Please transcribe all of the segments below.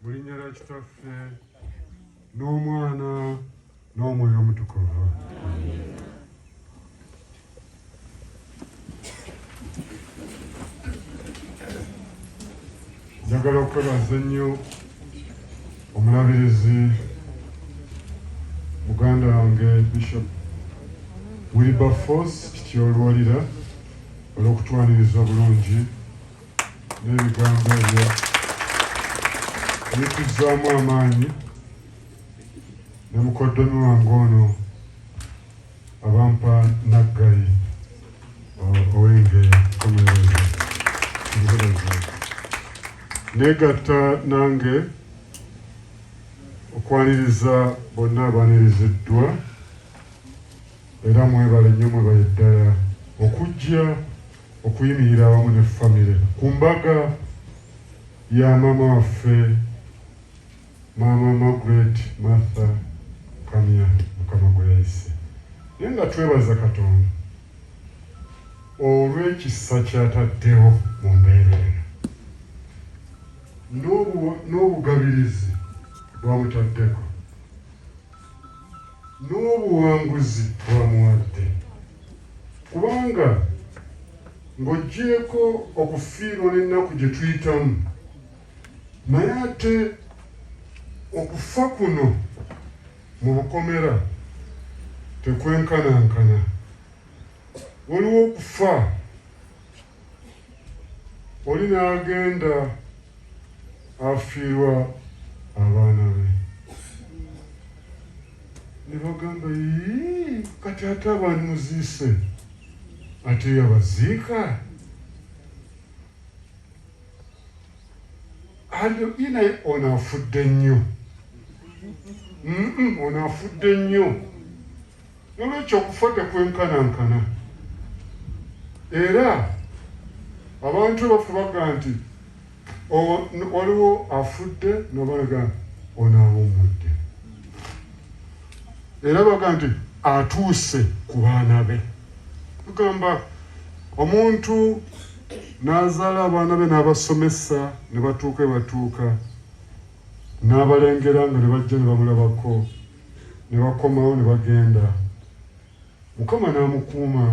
mu linnya lya kitaffe n'omwana n'omwoyo omutukuvu njagala okwebaza ennyo omulabirizi muganda wange bishop wilberforce kityolwalira olw'okutwaniriza obulungi n'ebigambo ebyo bituzzaamu amaanyi ne mukoddomi wange ono abampa naggayi owenge komereza ngereza negatta nange okwaniriza bonna abaniriziddwa era mwebale nnyo mwebaye ddala okujja okuyimirira awamu ne famire ku mbaga ya maama waffe maama Margaret Martha Kamya mukama gwe yayise naye nga twebaza Katonda olw'ekisa kyataddewo mu mbeera eno n'obugabirizi bwamutaddeko n'obuwanguzi bw'amuwadde kubanga ng'oggyeeko okufiirwa n'ennaku gye tuyitamu naye ate okufa kuno mu bukomera tekwenkanankana waliwo okufa oli n'agenda afiirwa abaana be ne bagamba yii kati ate abantu muziise ate yabaziika alyo inaye ono afudde nnyo ono afudde nnyo N'olwekyo okufa tekwenkanankana. Era abantu bafubaga nti waliwo afudde nobanaga ono awummudde. Era baga nti atuuse ku baana be. Tugamba omuntu n'azaala abaana be n'abasomesa ne batuuka ebatuuka N'abalengera nga ne bajja ne bamulabako, ne bakomawo ne bagenda. Mukama n'amukuuma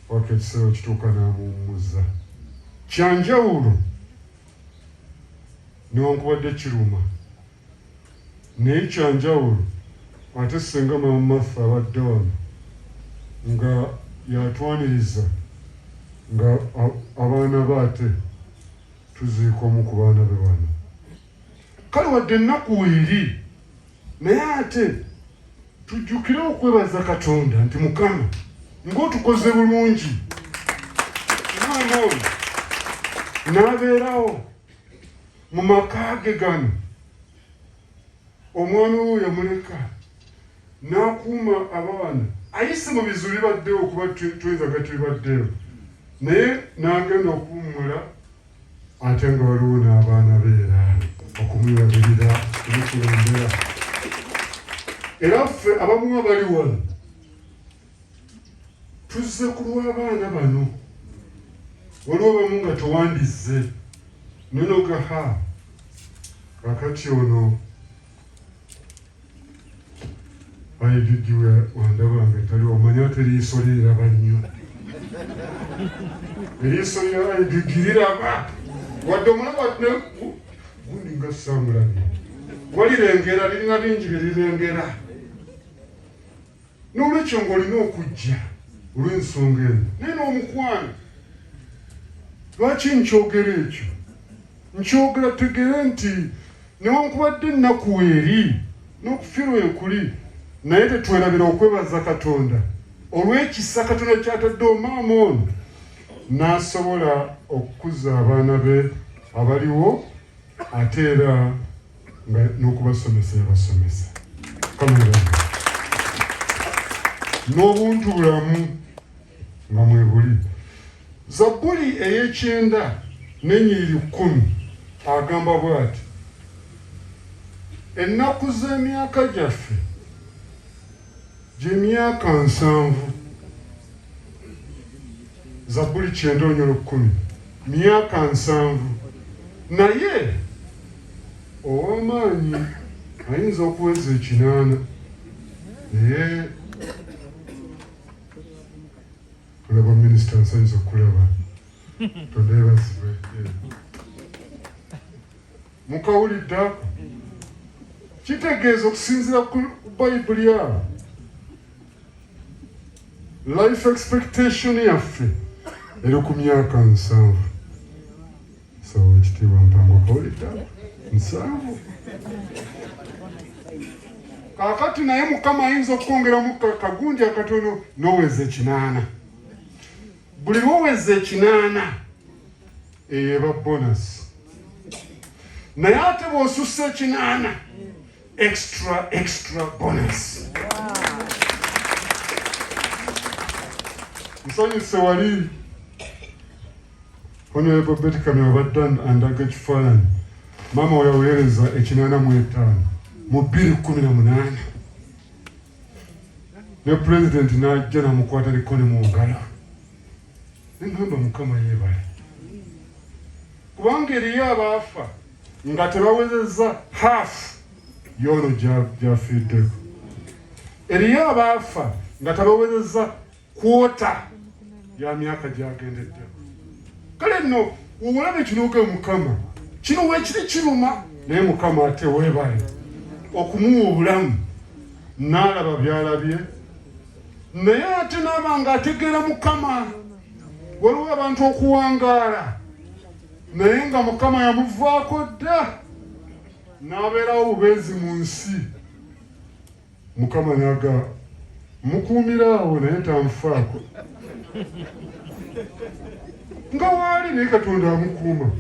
paka ekiseera we kituuka n'amuwummuza. Kya njawulo newankubadde kiruma, naye kya njawulo ate ssenga Maama Martha abadde wano nga y'atwaniriza nga abaana be ate. Tuziika omu ku baana be wano. Kale wadde ennaku weeri, naye ate tujjukire okwebaza Katonda nti Mukama ng'otukoze bulungi omwana oyo n'abeerawo mu maka ge gano omwami we yamuleka nakuuma abaana ayise mu bizibu bibaddewo kuba tuyinza gati bibaddewo naye nagenda okuwummula ate nga waliwo n'abaana be era okumulabirira omukulembera era ffe abamuwa bali wano tuzze ku lw'abaana bano waliwo bamu nga towandizze nonogaha kakati ono Ayi Gigi wandaba nga tali omanya ate eriiso lye liraba nnyo. Eriiso lya ayi Gigi liraba wadde omulaba gundi nga saamulabye walirengera lirina bingi bye lirengera. N'olwekyo ng'olina okujja olw'ensonga eyo, naye n'omukwano. Lwaki nkyogera ekyo? Nkyogera tegere nti newankubadde ennaku eri n'okufirwa ekuli, naye tetwerabira okwebaza Katonda olw'ekisa Katonda kyatadde omaama ono n'asobola okukuza abaana be abaliwo. ate era nga n'okubasomesa yabasomesa n'obuntu bulamu nga mwebuli zabbuli ey'ekyenda n'ennyiriri kkumi agamba bw'ati ennaku z'emyaka gyaffe gy'emyaka nsanvu. Zabbuli kyenda onyolo kkumi myaka nsanvu naye ow'amaanyi ayinza okuweza ekinaana naye olaba minisita nsanyuza okulaba tondebazibwe Mukawulidde ako? Kitegeeza okusinziira ku Bayibuli abo life expectation yaffe eri ku myaka nsanvu sawa ekitiibwa mpango kawulidda nsanvu kakati naye mukama ayinza okukwongeramu kagundi akatono noweza ekinaana buli lwoweza ekinaana eyo eba bonasi naye ate bwosussa ekinaana extra extra bonasi nsanyuse wali honorable beti kamya obadde andaga ekifaananyi maama weyaweereza ekinaana mu etaano mu bbiri kumi na munaana ne pulezidenti n'ajja namukwata likoni mu ngalo Nengamba mukama yebale kubanga eriyo abaafa nga tebawezezza haafu yoono gyafiiddeko eriyo abaafa nga tebawezezza kwota ya myaka gyagendeddeko kale nno wewulabe kinuuke mukama kino wekiri kiruma naye mukama ate webale okumuwa obulamu naalaba byalabye naye ate naaba nga ategeera mukama waliwo abantu okuwangaala naye nga mukama yamuvaako dda n'abeerawo bubeezi mu nsi mukama naga mukuumira awo naye tanfaako nga waali naye katonda amukuuma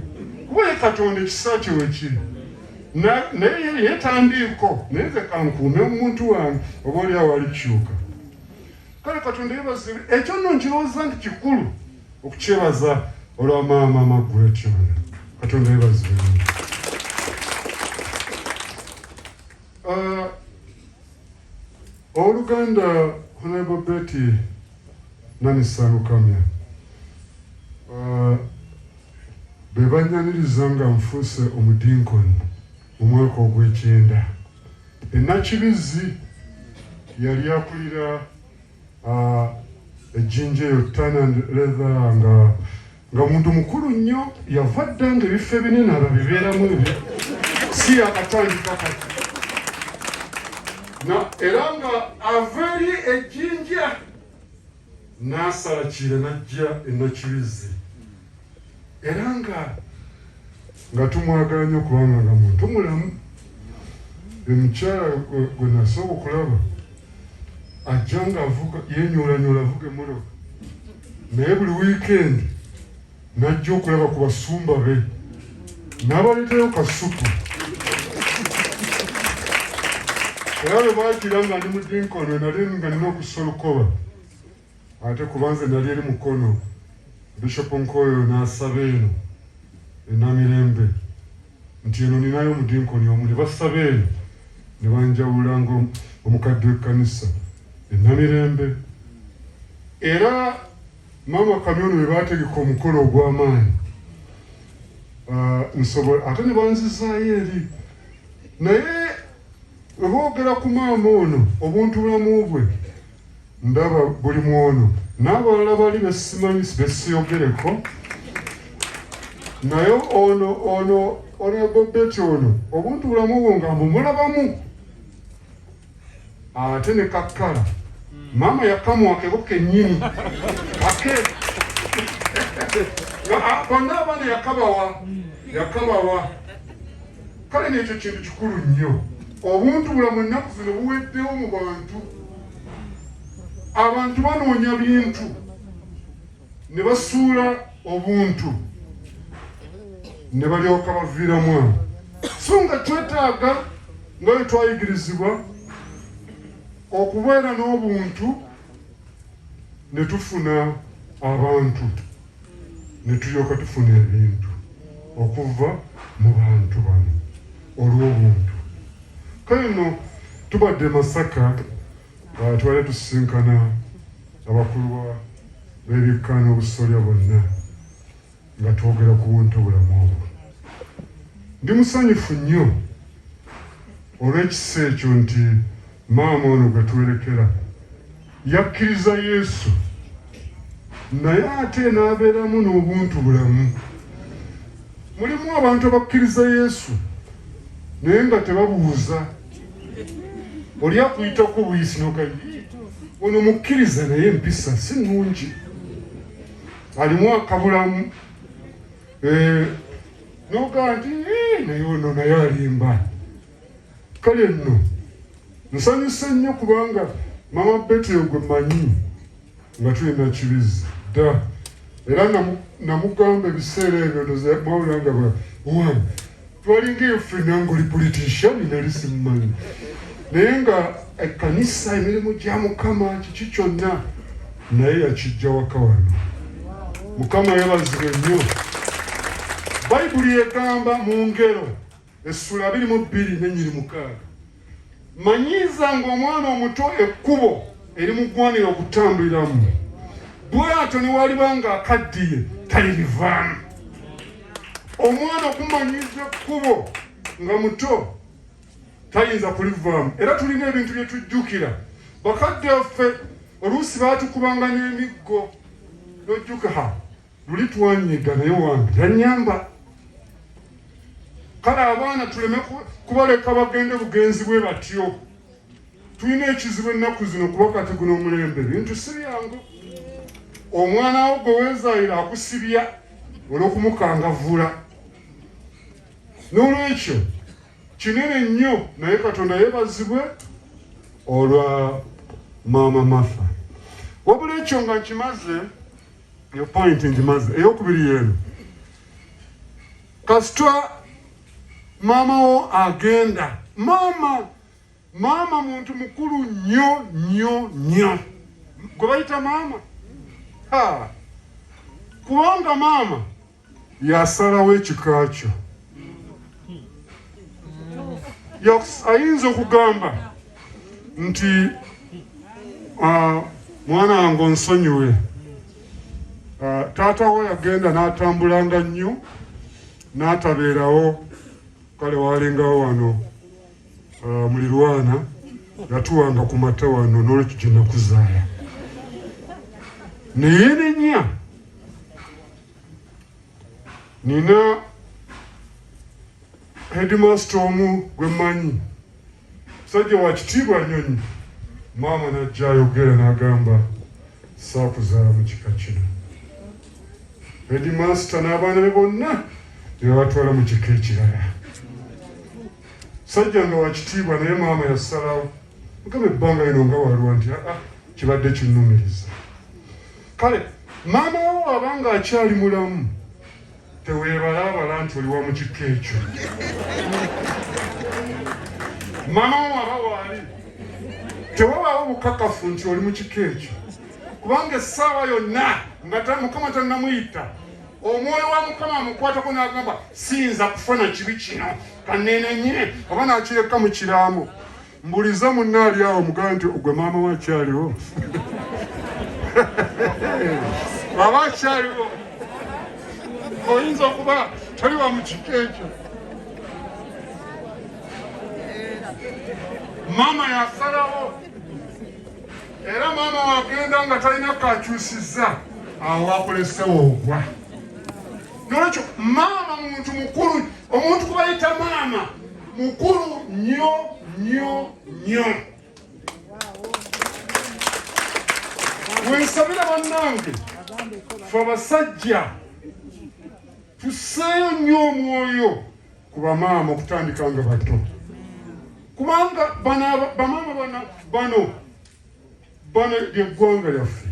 kuba ye katonda ekisa kye wekiri naye yetandiiko naye nze kankuume omuntu wange oba oli awo alikyuka kale katonda yebazibu ekyo nno nkirowooza nti kikulu okukyebaza olwa maama magretyona katonda yebazibu uh, Ow'oluganda Honorable Betty Nanisa Lukamya uh, be bannyaniriza nga nfuuse omudinkoni mu mwaka ogw'ekyenda e Nakibizzi yali akulira uh, ejjinja eyo Tan and Leather nga Nga muntu mukulu nnyo yava dda nga ebifo ebinene ababibeeramu ebyo si yakatandika kati era nga ava eri ejjinja n'asalakira n'ajja enakibizzi era nga nga tumwagala nnyo kubanga nga muntu mulamu buli mukyala gwe nasooka okulaba ajja nga avuga yenyoolanyola avuga emmotoka naye buli wiikendi najja okulaba ku basumba be n'abaleetayo kasuku era lwe bakira nga ndi mu dinkono nali nga nina okusolukoba Ate kuba nze nali eri Mukono, Bishop Nkoyo n'asaba eno e Namirembe nti eno ninayo omudinkoni omu ne basaba eno ne banjawula ng'omukadde w'ekkanisa e Namirembe era maama Kamyono be baategeka omukolo ogw'amaanyi Ah, nsobola ate ne banzizaayo eri naye weboogera ku maama ono obuntulamu bwe Ndaba buli mwono n'abalala bali besimanyi besiyogereko naye ono ono onegobeti ono obuntu bulamu bwo nga mbumulabamu ate ne kakkala maama yakamwakeko kenyini ake konna abaana yakabawa yakabawa Kale n'ekyo kintu kikulu nnyo. Obuntu bulamu ennaku zino buweddewo mu bantu. Abantu banoonya bintu ne basuula obuntu ne balyoka baviiramu awo so nga twetaaga nga bwe twayigirizibwa okubeera n'obuntu ne tufuna abantu ne tulyoka tufuna ebintu okuva mu bantu bano olw'obuntu. Kale nno tubadde e Masaka, uh, tubadde tusisinkana abakulu b'ebikka n'obusolya bonna nga twogera ku buntu bulamu obwo. Ndi musanyufu nnyo olw'ekisa ekyo nti maama ono gwe twerekera Yakkiriza Yesu naye ate n'abeeramu n'obuntu bulamu. Mulimu abantu abakkiriza Yesu naye nga tebabuuza oli akuyitako buyisi nogayi ono mukkiriza naye empisa si nnungi alimu akabulamu eh, nogaa nti eh, naye ono naye alimba kale nno nsanyuse nnyo kubanga mama beti ogwe manyi nga tulina kibizi dda era namugamba ebiseera ebyo ndozamawula nga bawan twalinga enfrina ngaoli politician nali simumanyi naye nga ekkanisa emirimu gya mukama kiki kyonna naye yakijja waka wano mukama yabazibwe nnyo bayibuli egamba mu ngero Essula biri mu bbiri n'ennyiri mukaaga. Manyiiza ng'omwana omuto ekkubo erimugwanira okutambuliramu, bw'atyo ne waliba ng'akaddiye talirivaamu. Omwana okumanyiiza ekkubo nga muto tayinza kulivaamu, era tulina ebintu bye tujjukira. Bakadde baffe oluusi baatukubanga n'emiggo n'ojjukaha luli twanyiga naye wange yanyamba kale abaana tuleme kubaleka bagende bugenzi bwe batyo tulina ekizibu ennaku zino kuba kati guno omulembe bintu si byangu omwana wo gwe weezaalira akusibya olw'okumukangavvula n'olwekyo kinene nnyo naye katonda yeebazibwe olwa maama mafa wabula ekyo nga nkimaze eyo point ngimaze eyokubiri yeeno kasita maama wo agenda maama maama muntu mukulu nnyo nnyo nnyo gwe bayita maama kubanga maama yasalawo ekika kyo ayinza okugamba nti ah, mwana wange onsonyiwe ah, taata wo yagenda n'atambulanga nnyo n'atabeerawo kale walingawo wano ah, mulirwana yatuwanga ku mata wano n'olwekyo gye nakuzaala naye nenya nina headmaster omu gwe mmanyi musajja wa kitiibwa nnyo nnyo maama najja ayogera n'agamba saakuzaala mu kika kino headmaster n'abaana be bonna nebabatwala mu kika ekirala musajja nga wa kitiibwa naye maama yasalawo Mukama ebbanga lino nga walwa nti aa kibadde kinnumiriza. Kale maama wo waba nga akyali mulamu teweebalaabala nti oli wa mu kikka ekyo. Maama wo waba waali tewabaawo bukakafu nti oli mu kikka ekyo kubanga essaawa yonna nga mukama tannamuyita omwoyo wa mukama amukwatako n'agamba siyinza kufa na kibi kino kaneenenye oba n'akireka mu kiraamo. mbuliza munna ali awo mugambe nti ogwe maama wa kyaliwo aba kyaliwo oyinza okuba toli wa mu kika ekyo maama yasalawo era maama wagenda nga talina kakyusiza awo wakolesewo ogwa nolwekyo maama muntu mukulu omuntu kubayita maama mukulu nnyo nnyo nnyo wensabira bannange fe abasajja tuseeyo nnyo omwoyo ku bamaama okutandika nga bato kubanga bamaama bano bano lyeggwanga lyaffe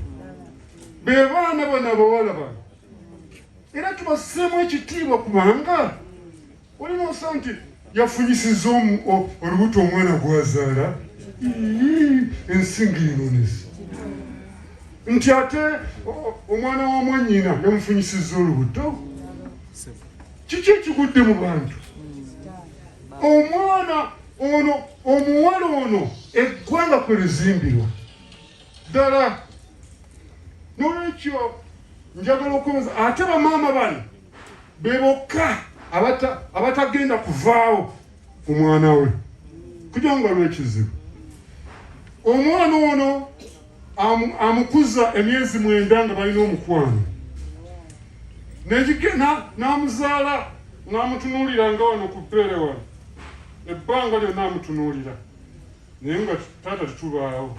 be baana bano abawala bano era tubasseemu ekitiibwa kubanga Waliwo osa nti yafunyisiza olubuto omwana gwazaala ensinga enonesa nti ate omwana wa mwanyina yamufunyisiza olubuto kiki ekigudde mu bantu omwana ono omuwala ono eggwanga kwe lizimbirwa ddala nolwekyo njagala okubuza ate bamaama bano be bokka abatagenda kuvaawo ku mwana we kujja nga lwekizibu omwana ono amukuza emyezi mwenda nga balina omukwano n'amuzaala n'amutunuulira nga wano ku ppeere wano ebbanga lyonna amutunuulira naye nga taata tetubaawo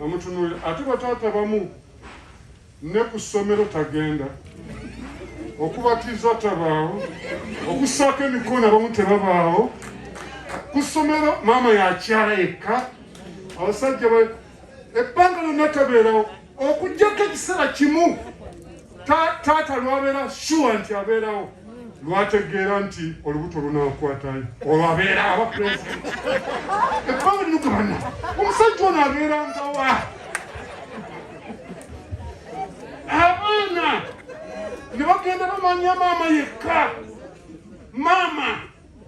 amutunuulira ate bataata bamu Ne ku ssomero tagenda. Okubatiza tabaawo. Okussaako emikono abamu tebabaawo. Ku ssomero maama yakyala yekka. Abasajja ba ebbanga lyonna tabeerawo okuggyako ekiseera kimu taata lwabeera shuwa nti abeerawo lwategeera nti olubuto lunakwatayo olwo abeera aba pulezidenti ebbanga lino gabana omusajja ono abeerangawa abaana ne bagenda bamanya maama yekka maama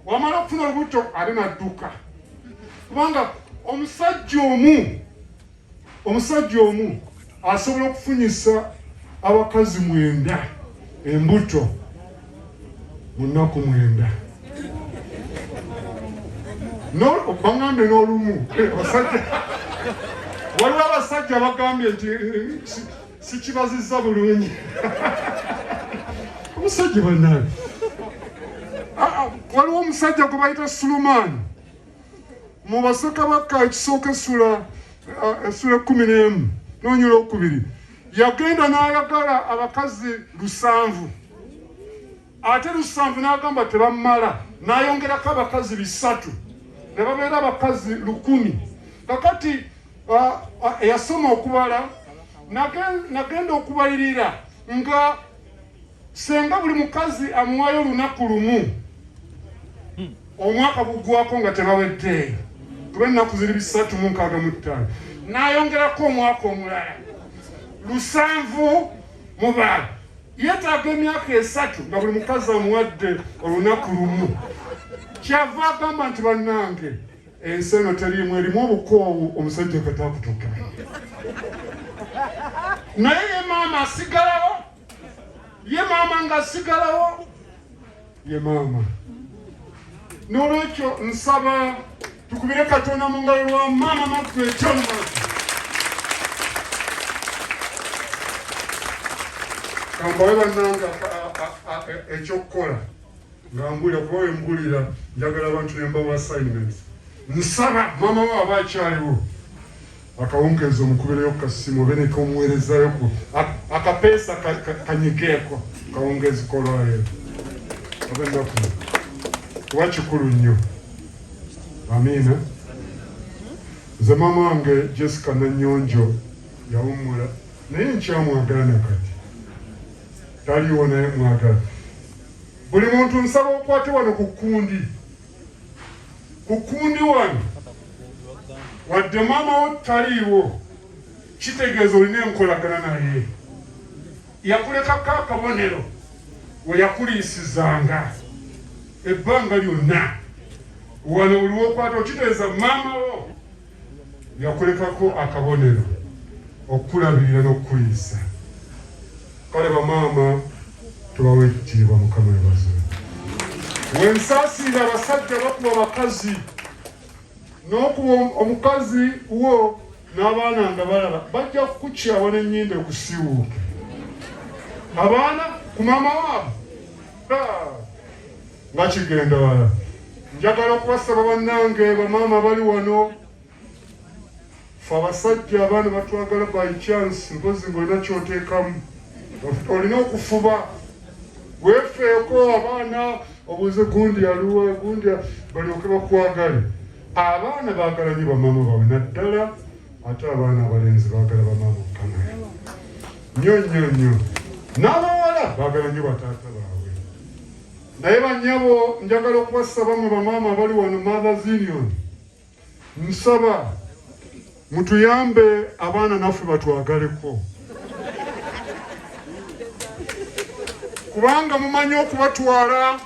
wamala okufuna olubuto ate nadduka kubanga omusajja omu omusajja omu asobola okufunyisa abakazi mwenda embuto munaku mwenda bangambye n'olumu eh, abasajja waliwo abasajja bagambye nti eh, sikibazizza bulungi omusajja banaye ah, ah, waliwo omusajja gwe bayita sulumaani mu basakabaka ekisooka esula esula ah, ekumi n'emu n'onyula okubiri Yagenda n'ayagala abakazi lusanvu ate lusanvu n'agamba tebamala n'ayongerako abakazi bisatu ne babeera abakazi lukumi kakati eyasoma okubala nagenda okubalirira nga senga buli mukazi amuwayo olunaku lumu omwaka gugwako nga tebaweddeeyo kuba ennaku ziri bisatu mu nkaaga mu ttaano n'ayongerako omwaka omulala lusanvu mu baala yeetaaga emyaka esatu nga buli mukazi amuwadde olunaku lumu kyava agamba nti bannange Ensi eno teriimu erimu obukoowu omusajja okata akutuuka naye ye maama asigalawo ye maama nga asigalawo ye maama n'olwekyo nsaba tukubire katonda mu ngalo lwa maama maffe ekyonmatu kambawe bannanga ekyokukola Nga mbulira kuba we mbulira njagala abantu ne mbawa assignments. Nsaba maama wo aba akyaliwo akawungeezi omukubireyo ku kasimu obe ne komuweerezayo ku akapeesa kanyigeeko kawungeezi kolwayo oba ennaku kuba kikulu nnyo. Amiina. Nze maama wange Jessica Nanyonjo yawummula naye nkyamwagala na kati taliwo naye mwagala Buli muntu nsaba okwate wano ku kkundi. Ku kkundi wano, wadde maama wo taliiwo, kitegeeza olina enkolagana naye. Yakulekako akabonero we yakuliisizanga ebbanga lyonna. Wano buli wokwata okitegeeza maama wo. Yakulekako akabonero, okukulabirira n'okukuliisa. Kale bamaama tubawe ekitiibwa. Mukama yebaze. Wensaasiira abasajja bakuba bakazi n'okuba omukazi wo n'abaana nga balaba bajja kukukyawa n'ennyinda ekusiiwuuke abaana ku maama waabwe nga kigenda wala njagala okubasaba bannange bamaama bali wano fe abasajja abaana batwagala by chance mpozi ngaolina kyoteekamu olina okufuba wefeeko abaana obuze gundi aluwa gundi balyoke bakwagale abaana baagala nyo bamaama bawe naddala ate abaana abalenzi baagala bamaama okanaye nyo nyo nyo n'abawala baagala nyo bataata Naye banyabo njagala okubasaba mwe bamaama abali wano Mothers Union, nsaba mutuyambe abaana naffe batwagaleko kubanga mumanyi okubatwala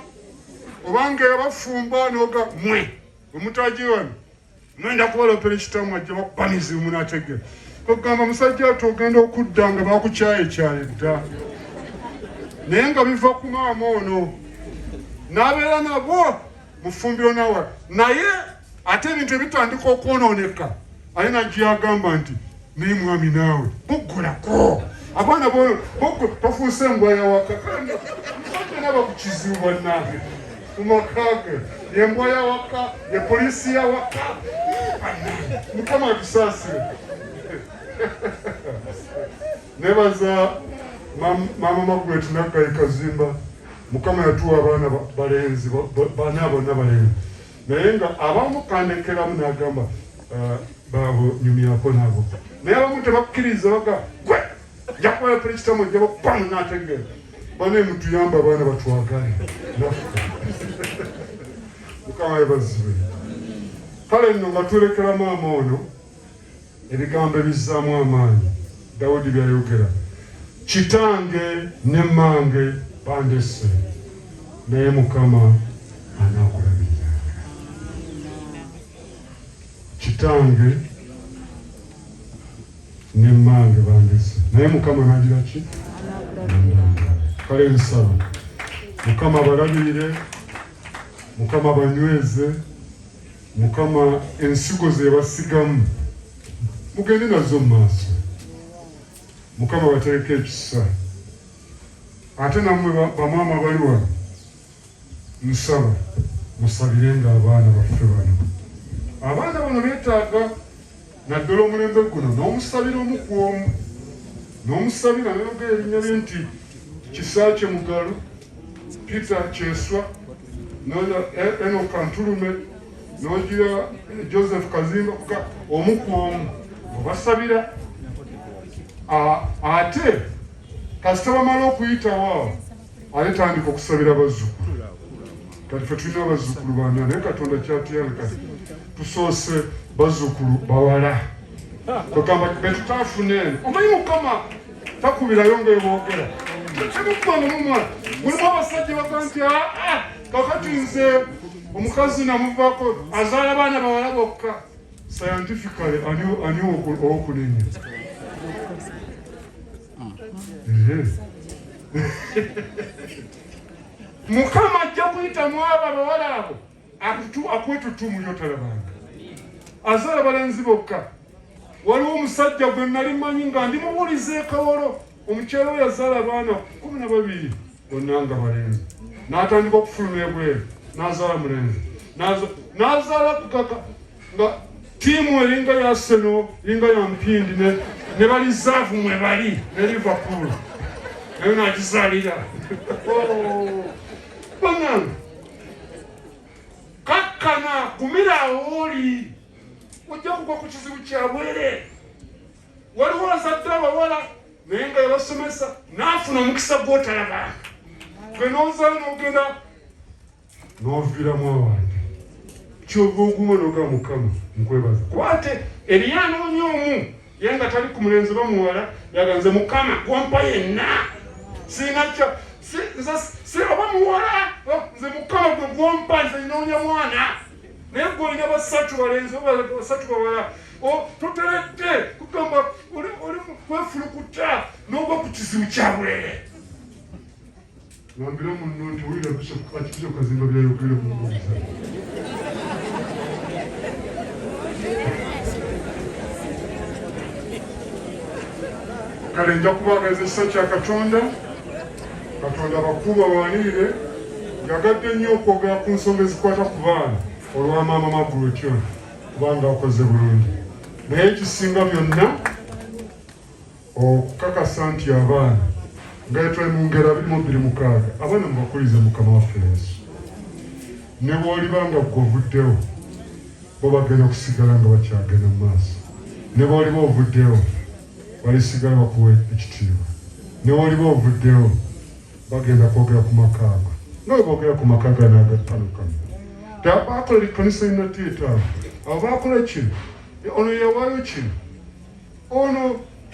obanga yabafumba noga mwe omutaji wano Ngenda kubalopera ekitamu ajja bakuba mizibu munategera. Ogamba musajja ati ogenda okudda nga bakukyayekyaye dda. Naye nga biva ku maama ono n'abeera nabwo mufumbiro nawa naye ate ebintu ebitandika okwonooneka aye najja agamba nti naye mwami naawe boggolako abaana bafuuse engwaya wakakanaba ku kizibu bannange mu maka ge yembwa yawaka ye poliisi yawaka mukama atusaasire nebaza maama magret naggayi kazimba mukama yatuwa abaana balenzi bana bonna balenzi naye nga abamu kandekeramu nagamba ah, babo nyumyako nabo naye abamu tebakiriza baga gwe njakuwala puli kitamu jabo pamu nategera bane mutuyamba abaana batwagale mukama yebazibe kale nno nga tulekera maama ono Ebigambo ebizzaamu amaanyi Dawudi by'ayogera, Kitange ne mmange bandesse, naye Mukama anaakulabiriranga. Kitange ne mmange bandesse, naye Mukama anaagira ki? Kale nsaba Mukama abalabirire, Mukama abanyweze. Mukama ensigo zebasigamu mugende nazo mu maaso. Mukama batereka ekisa ate namwe bamaama bali wano nsaba musabirenga abaana baffe bano abaana bano betaaga naddala omulembe guno n'omusabira omu ku omu n'omusabira nayogera erinnya lye nti kisaakye mugalu peter kyeswa noyo e-, eno kantulume nogira eh, joseph kazimba kuka omu ku omu obasabira ate kasita bamala okuyitawo awo Ate tandika okusabira abazzukulu kati fe tulina abazzukulu bana naye katonda kyatuyana kati tusoose bazzukulu bawala kwegamba betutafuna eno omanyi mukama takubirayo ngaebogera temukwano mumwa mulimu abasajja baga nti aa ah, ah, kakati nze omukazi namuvako azaala baana bawala bokka scientifically ani owokunenya mukama ajja kuyita mwabo abawala abo akwetutumu yotalabanga azaala balenzi bokka waliwo omusajja gwe nali manyi nga ndi mubuuliza ekawolo omukyalo yazaala abaana kumi na babiri bonna nga balenzi n'atandika okufuluma ebweru n'azaala mulenzi n'azaala kukaka nga tiimu eringa ya seno eringa ya mpindi ne balizaavu mwe bali ne liverpool nayo nagizaalira oh, banange kakkana gumira awooli ojja kugwa ku kizibu kyabwere waliwo azadde abawala naye nga yabasomesa n'afuna omukisa gw'otalaba gwe n'ozaala n'ogenda n'oviiramu awange kyova oguma noga mukama nkwebaza kuba ate eriyo anoonya omu ye nga tali ku mulenzi oba muwala yaganze mukama gwampa yenna sinakyo nze oba muwala nze mukama gwe gwampa nze noonya mwana naye gwe olina basatu balenzi basatu bawala toteredde kugamba oli kwefulukuta n'oba ku kizibu kyabwere wambira munno nti owulira akikiza okazimba byayogere mumuuza kale nja kubaagaliza ekisa kya katonda Katonda abakuuma abawanirire yagadde nnyo okwogera ku nsonga ezikwata ku baana olwa maama Margaret ono kubanga akoze bulungi naye ekisinga byonna okukakasa nti abaana nga yetwali mu ngeri abiri mu bbiri mukaaga abaana mubakulize mukama waffe yesu ne bwoliba nga gwe ovuddewo bo bagenda okusigala nga bakyagenda mu maaso ne bwoliba ovuddewo balisigala bakuwa ekitiibwa newaliba ovuddewo bagenda kwogera ku maka ago nga webogera ku maka gano agattanukamu tabakola ekkanisa enaddi etaano abo bakola kino ono yawaayo kino ono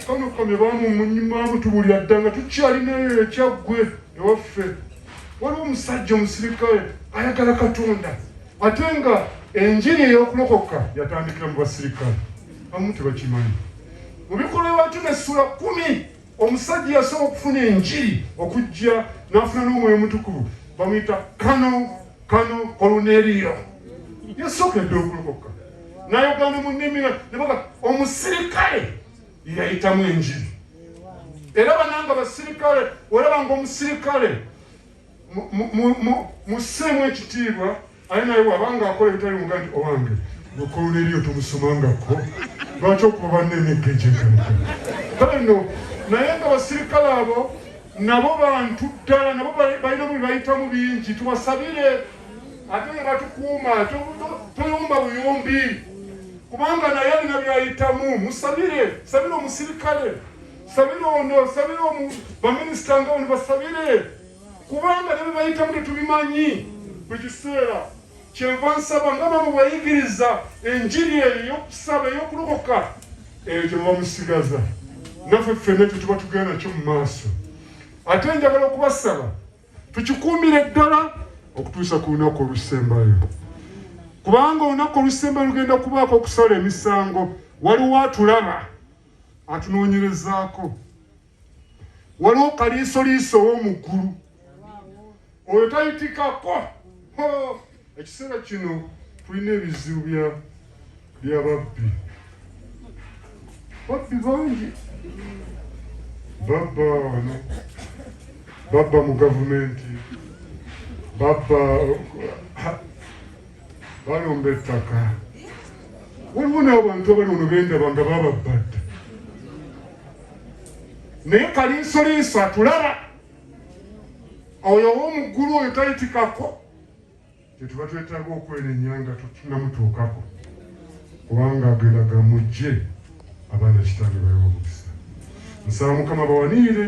kamukamye bamumunyimamutubulira dda nga tukyalinayo ekyaggwe ewaffe waliwo omusajja omusirikale ayagala katonda ate nga enjiri eyokulokoka yatandikira mu basirikale abamu tebakimanyi mu bikolwa by'abatume essula kumi omusajja yasooka okufuna enjiri okujja n'afuna n'omwoyo omutukuvu bamuyita kano kano koluneriyo yasooka edda okulokoka nayogana mu nnimi nebaga omusirikale yeyayitamu enjiri era bananga basirikale olaba ngaomusirikale musseemu ekitiibwa aye naye wabanga akola ebitali muga nti owange gwekoloneriyo tomusomangako lwaki okuba banna emigga egyeganika kale no naye nga basirikale abo nabo bantu ddala nabo balina mu bibayitamu bingi tubasabire ate ne batukuuma toyumba buyumbi kubanga naye alina byayitamu musabire sabire omusirikale sabira ono sabira omu baminisita nga ono basabire kubanga ne bebayitamu tetubimanyi buli kiseera kyenva nsaba nga bamu bayigiriza enjiri eyo eyokusaba eyokulokoka eyo gyebamusigaza naffe ffena ekyo tuba tugenda nakyo mu maaso ate njagala okubasaba tukikuumire ddala okutuusa ku lunaku olusembayo kubanga olunaku olusembayo lugenda kubaako okusala emisango waliwo atulaba atunoonyerezaako waliwo kaliisoliiso ow'omuggulu oyo tayitikako ekiseera kino tulina ebizibu bya babbi babbi bangi babba wano babba mu gavumenti babba balumba ettaka waliwo n'abantu abali ono bendaba nga bababbadde naye kaliisoliiso atulaba oyo owomuggulu oyo tayitikako kyetuba twetaaga okwenenya nga tunamutuukako kubanga agenda gamujje abaana kitaabwe bawe omukisa nsaba mukama bawanirire